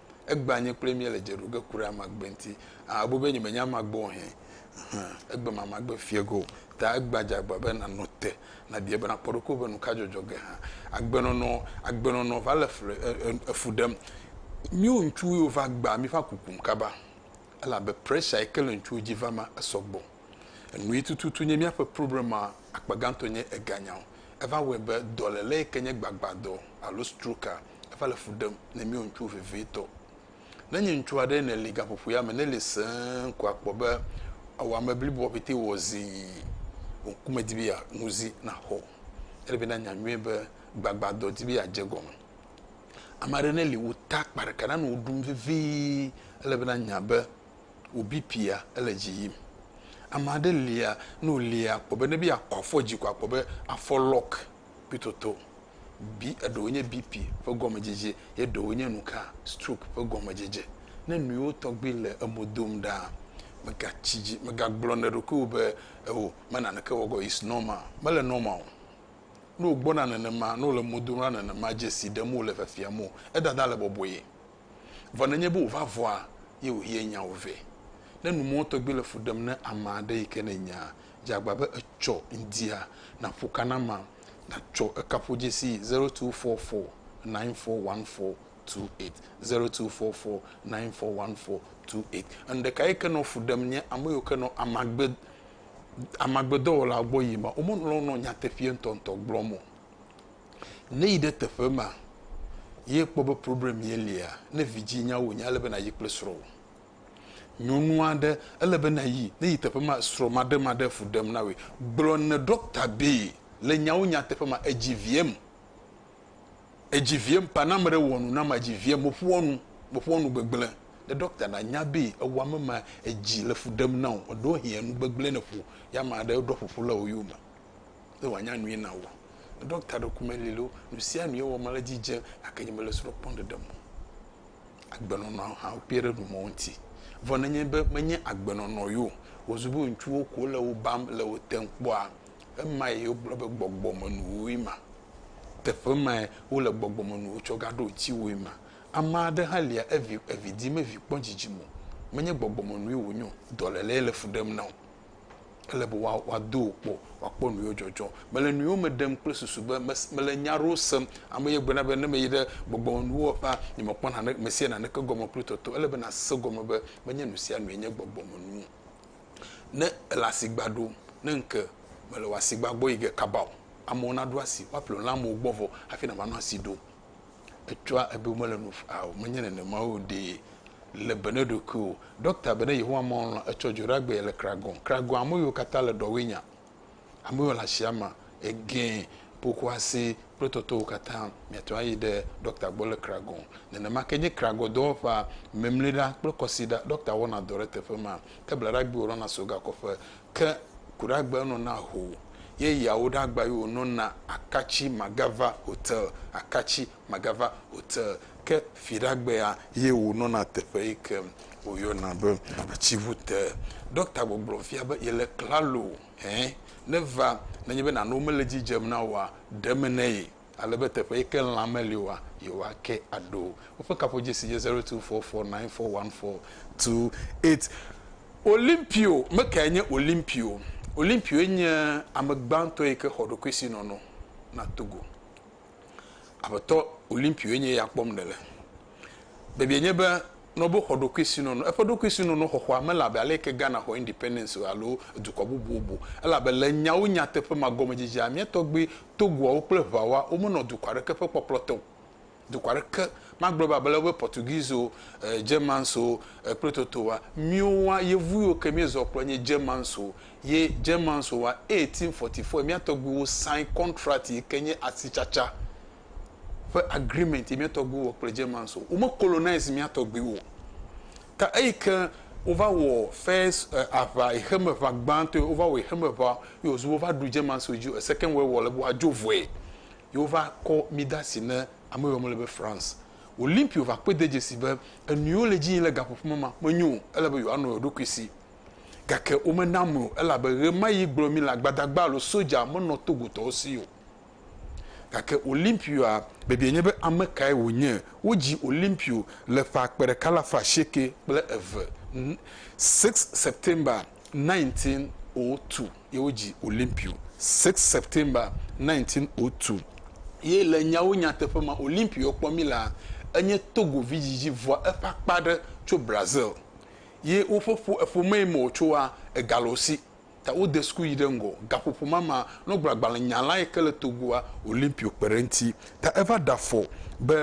Egbea nye kple mía le dze ɖom ge ku ɖe ame agbe ŋuti. Aa, ebu be nyemenya ame agbe o hẽ? Hẽ, egbe ma magbe fiẽ ge o. Ta egbea dze agba be nànɔ te, nàbiae be nàkpɔ ɖokuiwò be nuka dzɔdzɔ ge hã. Agbenɔnɔ, agbenɔnɔ va le ƒle, e, e, efu ɖem. Míwo ŋutsuwo yiwo va gbea míƒe akuku nu kaba, elabe pressure yi ke le ŋutsuwo dzi va ma, esɔ gbɔ. Enu yi tututu nye míaƒe problema akpa gãtɔ nye eganyawo. Eva wɔe be dɔléle yi ke nye gbagbadɔ alo stroke-a, eva le fu ɖem ne míwo ŋutsuwo vevitɔ. Ne nye ŋutsu aɖee nèli gaƒoƒoea me, neli sẽe ko akpɔ be ewɔ ame bliboa ƒete wɔ zii. Wò ŋku medi be yeanu zi naxɔ o. Ele be nànya nyuie be gbagbadɔ di be yeadze egɔme. Ame aɖe neli wu ta akpa ɖeka na nu woɖum vevie, ele be nànya be wò BP-a ele dzi yim. Ame aɖe lia, ne wolia akpɔ be ne be yeakɔ afɔ dzi ko akpɔ be afɔ lock kpitoto, bi, eɖewo nye BP ƒe gɔmedzedze ye ɖewo nye nuka, stroke ƒe gɔmedzedze. Ne nuyiwo tɔgbi le emo dom ɖaa, mègatsi dzi, mègagblɔ na ɖokuiwò be, Eo, me naneke wɔ ge o, it's normal. Mele normal o. Ne wògbɔna nenema, ne wòle mo dom ɖa nenema, dzesi ɖem wòle, fiafiam wò, edada le bɔbɔe. Vɔ nenye be wòva vɔa, ye wòyia nyawo vɛ. Ne numɔ̃ tɔgbi le fu ɖem na ame aɖe yi ke nènyaa, dze agba be etsɔ ŋdia, nàƒo ka na ma, nàtsɔ ekaƒodzesi zero two four four nine four one four two eight, zero two four four nine four one four two eight. Enu ɖeka yi ke nɔ fu ɖem nye ame yiwo ke nɔ amagbe, amagbedɔwɔlawo gbɔ yim ma, womelɔ̃ nɔ nyateƒeɛ ŋutɔŋutɔ gblɔm o. Ne yi ɖe teƒe ma ye kpɔ be problem ye lia, ne vidzĩ nya wò nya ele be na yi kple srɔ̃ wò. Nyɔnu aɖe ele be na yi, ne yi teƒe ma srɔ̃ maɖemaɖe fu ɖem na wòe. Gblɔ ne ɖɔkta be le nyawo nyateƒe ma edzi viem, edzi viem pa na ame ɖe wɔ nu nam edzi viem me ƒoa nu, me ƒoa nu gbegble ne ɖɔkta na nya be ewɔ ame ma edzi le fu ɖem na wò. Eɖo hɛ̃a nu gbegble ne ƒo ya ame aɖe ɖɔ ƒoƒu le wò yome. ne wòanya nui na wò. Ne ɖɔkta ɖe ku meli loo, nu sia nu ye wɔm le edzi dze gake nye mele srɔ̃ kpɔm ɖeɖe me o. Agbenɔnɔ hã kpe ɖe nu mawo ŋuti. Vɔ nenye be menye agbenɔnɔ ye o, wòzu be ŋutsuwo ko le wò bam le wò tem kpɔa, ema ye wogblɔ be gbɔgbɔmenuwoe ma. Teƒe mae wole gbɔgbɔmenuwo tsɔ gaɖo ŋutiwòe ma. Ame aɖe hã lia evi evi dim evi kpɔ dzidzime o. Menye gbɔgbɔmenue wònye o, dɔlélee le fu ɖem na wò. Ele be woa, woado wò kpɔ, woakpɔ nuyɔ dzɔdzɔ. Mele nuyɔ me ɖem kple susu be mes, mele nya aɖewo sem. Ame ye gblɔna be, ne meyi ɖe gbɔgbɔmenuwɔƒea la, nyemekpɔna nane, mesia naneke gɔme kple tɔtɔ. Ele be nàse gɔme be menye nusianue nye gbɔgbɔmenu o. Ne èle asigba ɖo, ne ŋke mele wò asigba gbɔ yi ge kaba o, amewo naɖo asi, woaƒle wò le amewo gbɔ vɔ hafi nàva nɔ asi ɖo. Etsɔa ebe womele nu faa o. Menye nenema o ɖee. Le be ne ɖokuiwò. Ɖɔkta be ne Yehowa Mawu lɔ̃ etsɔ dzo ɖa gbee le Kragon. Kragon ame yiwo katã le ɖɔwoe nya. Ame yiwo le asia ma, egẽ, pokuase kple tɔtɔwo katã. Miate ŋu ayi ɖe ɖɔkta gbɔ le Kragon. Nenema ke nye Kragon dɔwɔƒea, Memliɖa kple Kɔsiɖa. Ɖɔkta wɔna dɔ ɖe teƒe ma. Ke blaɖagbee wòlɔna so gakɔƒe. ke kuɖagbe nɔ na ho ye yawo ɖe agba yo nɔ na akatsi magava hote akatsi magava hote ke fiɖagbea ye wo nɔ na teƒe yi ke wo yɔ na be atsi ʋu te dɔkta gbɔgblɔ fia be ye le klalo hɛ ne va ne nye be nano me le dzi dzem na woa ɖe me ne ye. ale be teƒe yi ke lã meli oa, yewoake aɖo. Woƒe kaƒodzesi nye zero two four four nine four one four two eight. Olimpio, me kae nye Olimpio? Olimpioe nye ame gbãtɔ yi ke xɔ ɖokuisinɔnɔ na Togo. Aƒetɔ Olimpioe nye ya kpɔm nèle. Bebie nye be Noble xɔ ɖokuisinɔnɔ. Eƒe ɖokuisinɔnɔxɔxɔa mele abe aleke Ghana xɔ independence alo dukɔ bubuwo o. Ele abe le nyawo nyateƒe ma gɔmedzidzea, mía tɔgbui Togoawo kple Eʋaoa womenɔ dukɔ aɖeke ƒe kpɔkplɔ te o. Dukɔ aɖeke, magblɔe be abe le wobe Portuguese o, Germans o, kple toto wa. Míwoa, Yevu yiwo ke míezɔ kplɔ nye Germans o, ye Germans o wa, 1844 mía tɔgbuiwo sign contract yike nye asitsatsa. ƒe agreement yi mía tɔgbuiwo wɔ kple Germans o. Wome colonize mía tɔgbuiwo o. Ta eyi ke wova wɔ first aʋa xexeme ʋa gbãtɔe, wova wɔ xexeme ʋa ye wòzu be wova ɖu Germanswo dzi o. Second World War le be woadzo vɔe ye wova kɔ mí de asi ne ame yi wɔm le be France. Olympio va kpɔe de dzesi be enu yi wole edzi yim le gaƒoƒo me ma menyo o. Ele be yewoanɔ yewoɖokui si. Gake womena amlui o elabe ɣemaɣi gblɔ mí le agbadagba alo soja menɔ Togotɔwo si o. Gake Olimpioa biabiae nye be, Ame kae wònye? Wodzi Olimpio le ƒe akpe ɖeka alafa asieke kple eve, six September 1902 ye wodzi Olimpio, six September 1902. Ye le nyawo nyateƒe me, Olimpio kpɔ mí laa, enye Togo vi dzidzi vɔa eƒe akpa aɖe tso Brazil. Ye woƒe ƒo, eƒomee me wòtsoa, egale wo si. ta wode suku yi ɖe ŋgɔ. Gaƒoƒo ma ma nɔ gblɔ agbalẽ nya lae ke le Togoa Olympio kpe ɖe eŋuti. Ta eva ɖe afɔ be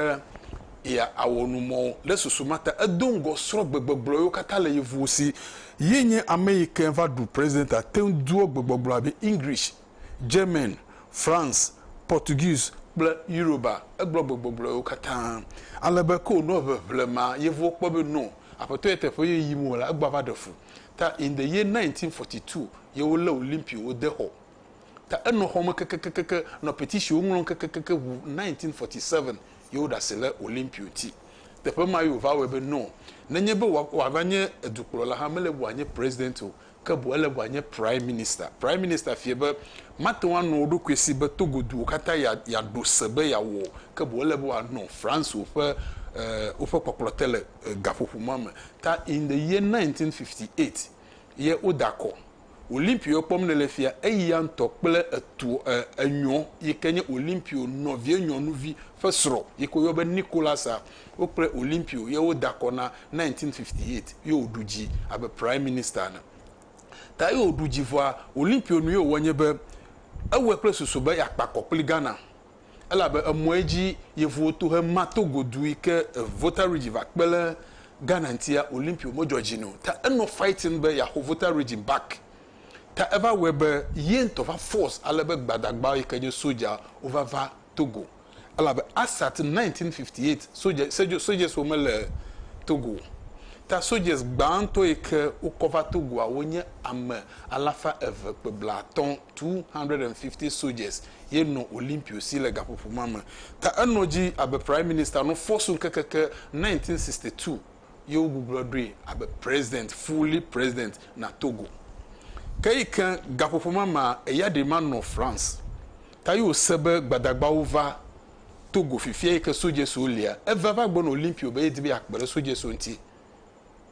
ya awɔ nu mɔ ɖe susu ma ta edo ŋgɔ srɔ gbegbɔgblɔ yiwo katã le yevuwo si. Ye nye ame yi ke va ɖu president a teŋ doɔ gbegbɔgblɔ abe English, German, France, Portuguese kple Yoruba. Egblɔ gbegbɔgblɔ yiwo katã ale be ke wonɔ ʋeʋle ma yevuwo kpɔ be no aƒetɔ ye teƒe ye yim wo le egbɔ ava ɖe fu. Ta in the year 1942 ye wo le Olympio wo de xɔ. Ta enɔ xɔme kekekekeke nɔ petitionwo ŋlɔm kekekeke ŋu 1947 ye wo ɖase le Olympio ŋti. Teƒe ma ye wo va wɔe be no nenye be wa wa va nye edukplɔla hã mele be wa nye president o ke boŋ ele be wa nye prime minister. Prime minister fie be mate ŋu anɔ wo ɖokui si be Togo duwo kata ya ya ɖo se be ya wɔ o ke boŋ ele be wa nɔ France woƒe eh woƒe kpɔkplɔ te le gaƒoƒo ma me ta in the year 1958 ye wo da kɔ Olimpio kpɔm nele fia eya ŋtɔ kple etuɔ e enyɔ yi ke nye Olimpio nɔvie nyɔnuvi ƒe srɔ yi ke wo yɔ be Nicolasa wo kple Olimpio ye wo da kɔ na 1958 ye wo ɖu dzi abe prime minister ene ta ye wo ɖu dzi vɔa Olimpio nu ye wo wɔ nye be ewɔe kple susu be ya kpa kɔ kpli Ghana. elabe emɔ edzi yevuwo to he ma to godu yi ke Volta Region va kpe le Ghana ŋtia Olympio me dzɔ dzi no ta enɔ fighting be yaxo Volta Region back ta eva wɔe be yentɔ va force ale be gbadagbawo yi ke nye soja wo va va Togo elabe Assat 1958 soja sojas wo me le Togo o ta sojas gbãtɔ yi ke wo kɔ va Togoa wo nye ame alafa eve kpe blatɔ. 250 soldiers ye nɔ Olimpio si le gaƒoƒo ma me. Ta enɔ edzi abe Prime Minister nɔ Fosun ke keke 1962 ye wogugblɔ ɖoe abe President, fully President, na Togo. Ke yi ke gaƒoƒo ma mea, eya ɖee ma nɔ France. Ta ye wòse be Gbadagbawo va Togo fifia yi ke soldiers wo lia. Eva va gbe nɔ Olimpio be ye di be yeakpe ɖe soldiers wo ŋuti.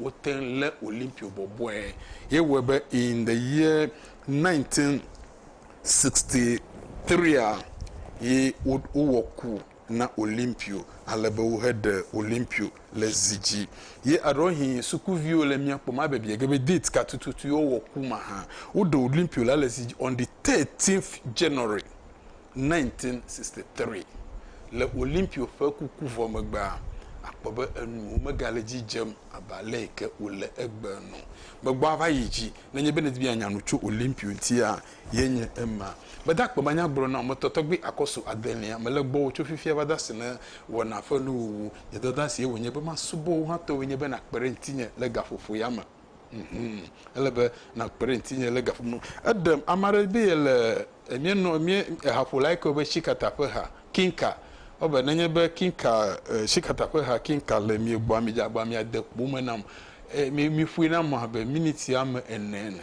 Wote ŋu lé Olimpio bɔbɔe hewɔe be in the year 1963a, ye wowɔ ku na Olimpio ale be woheɖe Olimpio le zi dzi. Ye eɖewohĩ sukuviwo le mía kpɔm abe biege be date ka tututu ye wowɔ ku ma hã. Woɖe Olimpio la le zi dzi on the 13th January 1963, le Olimpio ƒe kuku vɔ megbea, akpɔ be enuwo megale edzi dzem abe aleke wòle egbe ene. Megbɔ ava yi dzi. Nenye be nèdi be yeanya nu tso Olimpio ŋutia, ye nye ema. Mede akpe be anya gblɔ na wò, metɔ tɔgbi akɔsu adelia. Mele gbɔwò tso fifia va dasi ne wɔna ƒe nuwuwu. Nye dɔdeasie wònye be masubɔ wò hã, tɔwòe nye be nàkpe ɖe ŋutinye le gaƒoƒo ya me. Ele be nàkpe ɖe ŋutinye le ga ƒom nu. Eɖem ame aɖe be yele míenɔ mí ehaƒola yi ke woyɔna be Tsikata ƒe ha Kinka. Ewɔ abe nenye be Kinka Tsikata ƒe ha Kinka le mia gbɔa midze agbagba be miade kpo eme nam eye mi miƒoe nam abe miniti ame ene ene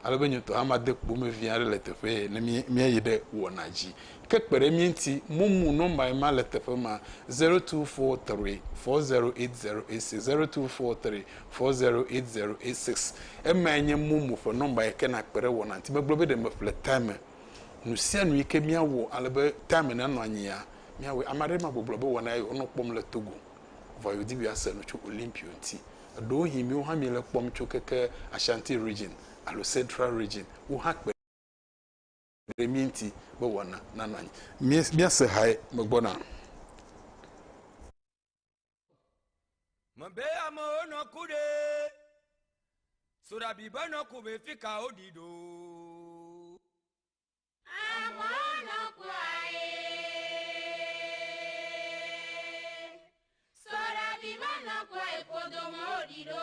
ale be nye ŋutɔ hã made kpo eme vi aɖe le teƒee ne mí míayi ɖe wɔna dzi. Ke kpe ɖe mía ŋuti, momu nɔmba ye ma le teƒe ma, zero two four three four zero eight zero eight six, zero two four three four zero eight zero eight six. Emae nye momo ƒe nɔmba yi ke nàkpe ɖe wɔnaa ŋuti. Megblɔ be ɖe meƒle time nu sia nu yi ke míawɔ ale be time nanɔ anyia, míawɔe. Ame aɖee ma gbɔgblɔ be wɔna ye wònɔ kpɔm le Togo. Vɔa yewodi be yease nu tso Olympio ŋuti. Ɖewohĩ míwo hã míele ekpɔm tso keke Ashanti Region alo Central Region, wo hã kpe. ɖe mía ŋuti be wɔna nanɔ anyi. Míase hae megbɔna. Mebe amewo nɔ ku ɖe soɖabi be nɔ ku be fi ka woɖi ɖo. Amewo nɔ kua ye. Soɖabi be nɔ kua ye kodo me woɖi ɖo.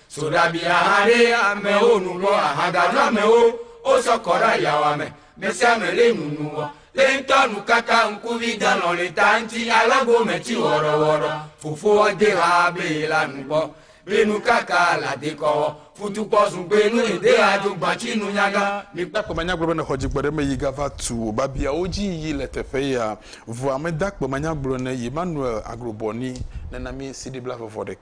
So ɖabi aha ɖe amewo nu kpɔ ahaganu amewo wosɔ kɔ ɖe ayawa me mesiame le nunu wɔ le ŋutɔ nukaka ŋkuvi delɔ le ta ŋuti ale gome ti wɔɖɔwɔɖɔ fofoa de ha be la nukpɔ be nukaka la dekɔwɔ futukpɔ zugbe nu ede ado gbatsi nunyaga mikpɔ kpɔ manya gblɔ be nexɔ dzigbɔ ɖe me yi gava tu wò babiawo dzi yi le teƒe ya vɔa meda kpɔ manya gblɔ ne Emmanuel Agrobɔ ni nena mi CD blavevɔ ɖeka.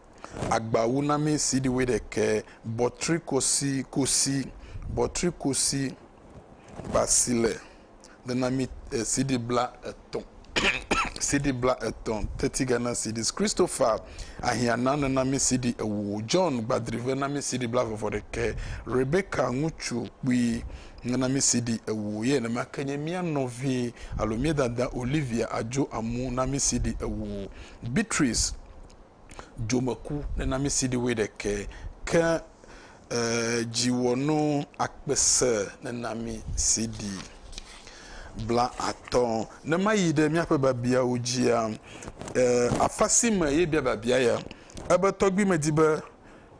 agbawunami CD wuiɖekɛ, bɔtrikosi kusi, bɔtrikusi basile, denami CD blaetɔ̃, CD blaetɔ̃, Thirty Ghana Cedis, Christopher Ahiana nenami CD ewo, John Gbadrive nami CD blaevevɔɖekɛ, Rebecca ŋutsu kpui nenami CD ewo, ye nenema ke nye mía nɔvi alo mía dada Olivia Adjo Amu nami CD ewo, Beatrice dzomeku nenamisi ɖi wuiɖekɛ ke ee dziwɔnu akpese nenamisi ɖi blaatɔ̃. Ne mayi ɖe míaƒe biabiawo dzia ee afa si me ye bia biabia ya ebe tɔgbui medi be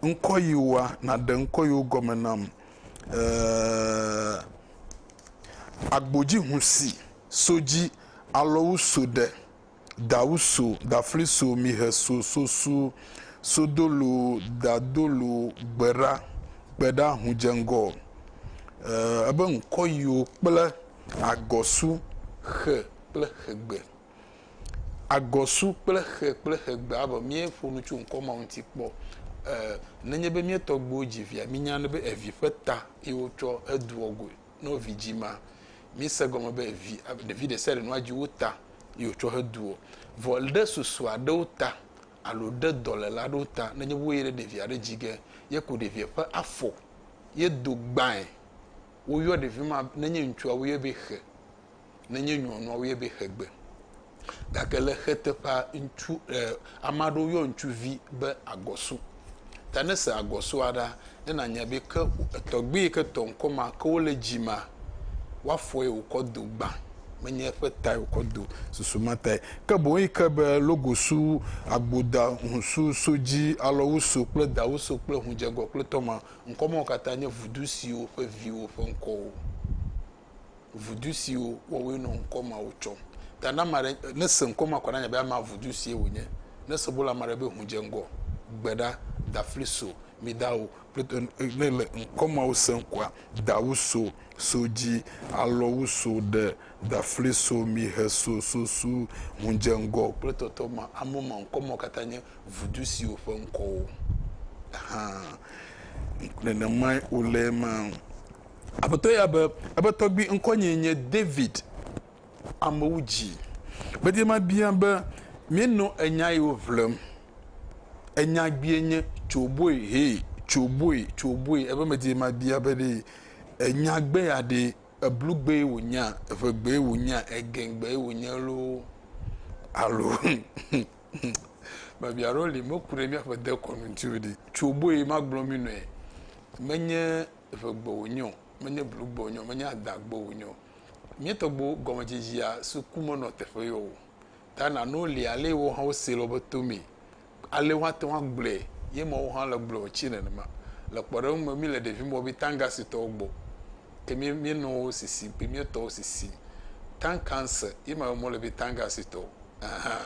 ŋkɔ yewoa naɖe ŋkɔ yewo gɔme nam ee agbodzihusi so dzi alɔwu so ɖe. Dawu so, dafli so, mihe so, sosu, sodolu, dadolu, gbeɖa, kpeɖa, hudzeŋgɔ, ebe ŋkɔyiwo kple agɔsu, xe kple xegbe. Agɔsu kple xe kple xegbe abe míeƒo nu tso ŋkɔ mawo ŋuti kpɔ. Nenye be mía tɔgbuiwo dzi via, mínyana be evi ƒe ta ye wotsɔ hedoa goe. ne wo vi dzi ma mise gɔme be vi ɖevi ɖe sia ɖe nɔa dzi wo ta yi wotsɔ he du o vɔ ɖe susu aɖewo ta alo ɖe dɔlela aɖewo ta nenye wo yi ɖe ɖevia ɖe dzi ge ye ko ɖevia ƒe afɔ ye do gbãe woyɔ ɖevi ma nenye ŋutsua woyɔ be xe nenye nyɔnua woyɔ be xegbe. Gake le xeteƒea, ŋutsu e ame aɖewo yɔ ŋutsuvi be agɔsu. Ta ne èse agɔsua ɖa, ne nànya be ke etɔgbui yi ke tɔ ŋkɔ ma ke wole dzi ma, woafɔe wòkɔ do gbã, menye eƒe tae wòkɔ do susu ma tae o. Ke boŋ yi ke be logosu, agboda, ŋusu, sodzi, alɔwusu kple dawusu kple ŋudzegɔ kple tɔma, ŋkɔ mawo katã nye vudu siwo ƒe viwo ƒe ŋkɔwo vudu siwo wɔwoe nɔ ŋkɔ mawo tsɔm. Ta ne ame aɖe nese ŋkɔ ma kɔ na nya be ama vudu sie wònye, nese bolo ame aɖe be ŋu dze ŋgɔ, gbe ɖa, dafli so, mi da o, ne le ŋkɔ mawo sem koa, dawu so, so dzi, alɔwu so, ɖe, dafli so, mi he so, so su, ŋu dze ŋgɔ kple tɔtɔ ma, amewo ma ŋkɔ mawo katã nye vudu siwo ƒe ŋkɔwo. Hã nenemae wòle ema. Aƒetɔ ya be, Eƒe tɔgbui ŋkɔnyee nye David. Amewo dzii. Gbedie mabia be, Míenɔ enya yiwo ʋlem. Enya gbie nye, Tso boe, hee, tso boe, tso boe. Ebe medie mabia be ɖe enya gbe ya ɖe eblu gbee wònyea, eʋe gbee wònyea, egẽ gbee wònye loo alo biabia aɖewo li meku ɖe míaƒe dekɔnu ŋuti o ɖi. Tso boe magblɔ mí nɔe. Menye eʋegbe wònye o, menye blugbe wònye o, menye adãgbe wònye o. Míetɔgbuiwo gɔmedzedzea so ku menɔ teƒe yɔ o. Ta nanewo li alee woawo hã wosee le woƒe to mee. Alee woate ŋu agblɔe ye ma woawo hã le gblɔe wòtsi nenema. Le kpɔɖeŋu me, míle ɖevime wɔƒi Tangasitɔwo gbɔ. Ke mí, míenɔ wo sisim kple mía tɔwo sisim. Tankanse ye ma be mɔle be Tangasitɔwo. Ahan.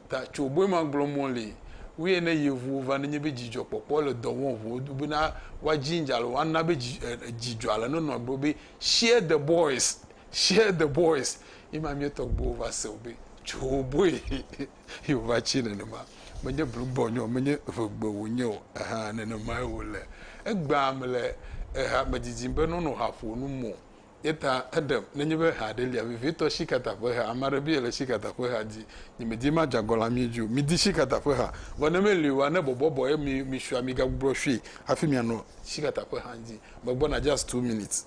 Ta tso boe ma gblɔ mɔ le wee ne yevuwo va nenye be dzidzɔ kpɔkpɔ le dɔ wɔm ʋuo do be na wa ginger le wa na be dzi dzidzɔ ale ne nɔ gblɔ be share the boys share the boys ye ma mia tɔ gbewo va se o be tso boe ye o va tsi nenema me nye blu gbɔ nyɔ me nye ve gbe wo nye o eha nenema ye wo le egba me le eha me didim be nɔ nɔ ha ƒo nu mo Ye ta eɖem, nenye be ha aɖe lia, vevitɔ sikata ƒe ha, ame aɖe be yele sikata ƒe ha di, nye medi ma dza gɔ le amie dzi o. Midi sikata ƒe ha, vɔ ne meli oa, ne bɔbɔ bɔ ye mi, mi sua, mi gagbugbɔ sui hafi mia nɔ sikata ƒe ha di. Me gbɔ na just two minutes.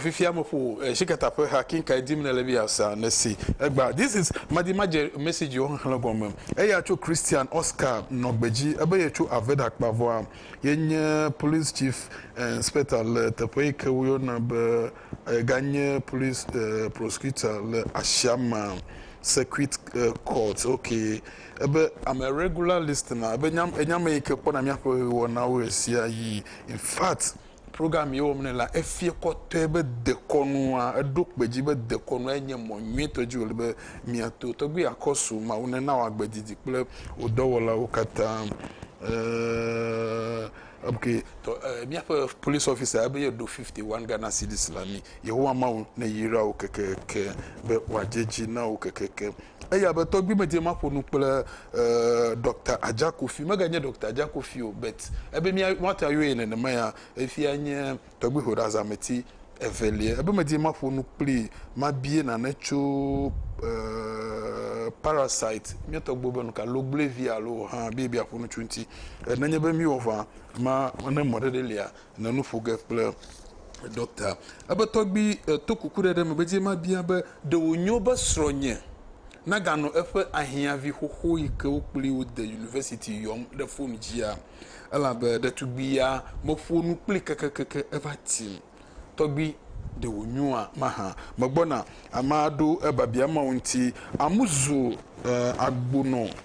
fifia mo ƒo eh, shikata ƒe ha kinka dim ne le bi asa ne si egba this is madimadze message wo xexlẽ gɔme eya tso christian oscar nɔgbedzi ebe ye tso aveda kpavɔa Ye nye Police Chief Inspector le teƒe yi ke woyɔna be ega nye Police Prosecutor le Ashama Circuit Court. Ok, ebe I'm a regular listener, ebe enye ame yi ke kpɔna míaƒe wɔnawo ɣesiaɣi. In fact. Program ye wɔm nɛ la, efia kɔtɔe be dekɔnua, eɖo kpe dzi be dekɔnua nye mɔ nyuitɔ dzi wòle be miato. Tɔgbui ya kɔ su Mawu nena wòagbe didi kple wò dɔwɔlawo katã. Eeeee ok tɔ ee míaƒe police officer ebe yeɖo fifty one Ghana cedis la mí. Yehowa Mawu neyra wò kekeeke be wòadze dzi na wò kekeeke. Eya be tɔgbui me dze maƒo nu kple Doctor Adja Kofi, mega nye Doctor Adja Kofi o but ebe mía woate ayɔ ye nenema ya, efia nye tɔgbui hoɖazameti evelia, ebe me dze maƒo nu kpli mabie nane tso parasite mía tɔgbuiwo be nuka logblui vi alo hã be yebia ƒo nu tso ŋuti. Nenye be mí wɔ ŋa ma ne mɔ ɖe ɖe lia nɔ nu ƒo ge kple ɖɔkta. Ebe tɔgbui to kukuɖeɖe me be dzi mabia be, Ɖe wònyo be srɔ̃nye naganɔ eƒe ahiãvi xoxo yi ke wo kplii wode yunivɛsiti yɔm ɖe fon dzia? Elabe ɖetugbui ya meƒo nu kplii kekekeke eva tim. Tɔgbui, ɖe wònyoa mahã? Megbɔna! Amea ɖo ebiabia mawo ŋuti. Amu zu agbonɔ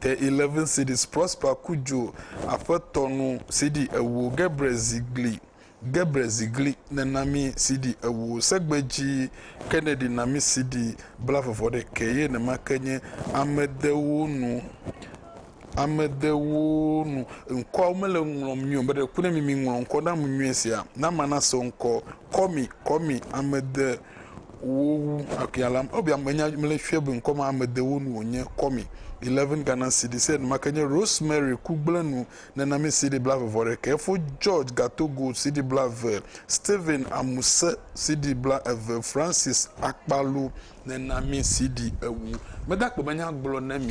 The Eleven Cities, Prosper Cudjoe, Aƒetɔ Nu, CD ewo, Gebre Zigli, Gebre Zigli, Nèna mí, CD ewo, Segbe Dzi, Kennedy Na mí, CD, Bla vɔvɔ ɖe ke ye ne make nye, Ame Dewo Nu, Ame Dewo Nu, Ŋkɔawo mele ŋu ŋlɔm nyuie o, meɖe kuku ne mi miŋlɔ ŋkɔ na ŋu nyuie sia, Na mana se ŋkɔ, Kɔmi, Kɔmi, Ame De. Wo wu akea lam ɔ bia menya mle fia be ŋkɔ ma ame de wo nu wo nye kɔ mi 11 Ghana cedis enu make nye Rosemary ku gble nu nena mi cedi bla ve vɔ ɖekɛ efo George Gatogo cedi bla ve Stephen Amuse cedi bla eve Francis Akpalu nena mi cedi ewu meda kpe menya gblɔ ne mi.